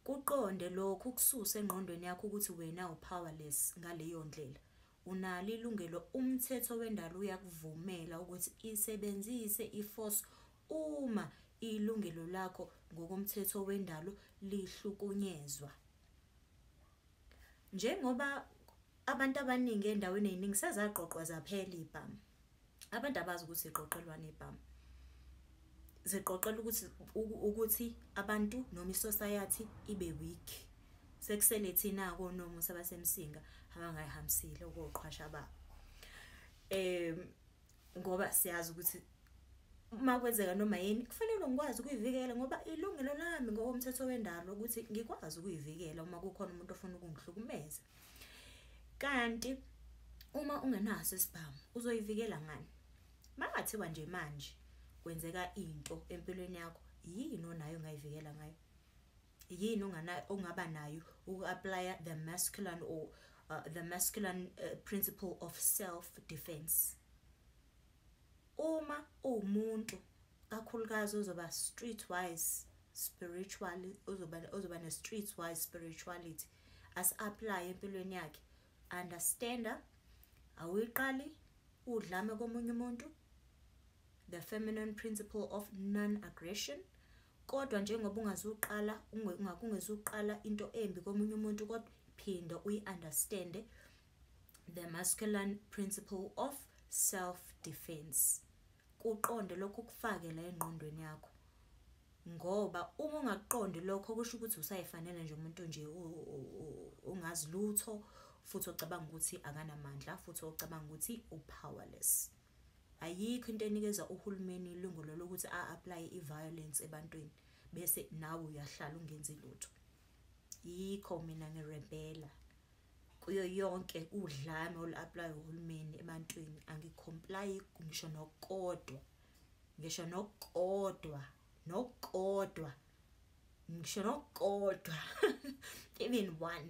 Kuqonde lokhu ukususe engqondweni yakho ukuthi wena upowerless ngaleyo ndlela. Unalo ilungelo umthetho wendalo uyakuvumela ukuthi isebenzise iforce uma ilungelo lakho ngokomthetho wendalo lihlukunyezwa. Njengoba Abantu abaningi endaweni eziningi sezaqoqwa zaphela ibhamu. Abantu abazi ukuthi ziqoqelwane ibhamu. Ziqoqela ukuthi ukuthi abantu noma isociety ibe weak. Sekusele thina konomu sabasemsinga abangayihambisile ukuqhwasha babo. Eh ngoba siyazi ukuthi uma kwenzeka noma yini kufanele ngikwazi ukuyivikela ngoba ilungelo lami ngokomthetho wendalo ukuthi ngikwazi ukuyivikela uma kukhona umuntu ofuna ukungihlukumeza kanti uma ungenaso isibhamu uzoyivikela ngani makathiwa nje manje kwenzeka into empilweni yakho yini onayo ongayivikela ngayo yini onganayo ongaba nayo uku-aplya the masculine or uh, the masculine uh, principle of self defense uma uwumuntu kakhulukazi ozoba street wise spiritually ozoba ozoba ne street wise spirituality asi-aplaye empilweni yakhe understanda awuyiqali udlame komunye umuntu the feminine principle of non-aggression kodwa njengoba ungazuqala ungakungezuqala into embi komunye umuntu kodwa phinda uyi-understande the masculine principle of self defense kuqonde lokho kufake la engqondweni yakho Ngoba uma ungakuqondi lokho kusho ukuthi usayifanele nje umuntu nje ongazi lutho futhi ocabanga ukuthi akanamandla futhi ocabanga ukuthi upowerless. Ayikho into enikeza uhulumeni ilungelo lokuthi a-apply i-violence ebantwini bese nawe uyahlala ungenzi lutho. Yikho mina ngirebhela kuyo yonke udlame olu-aplayo uhulumeni ebantwini angikhomplayi ngisho nokodwa ngisho nokukodwa nokukodwa ngisho nokukodwa even one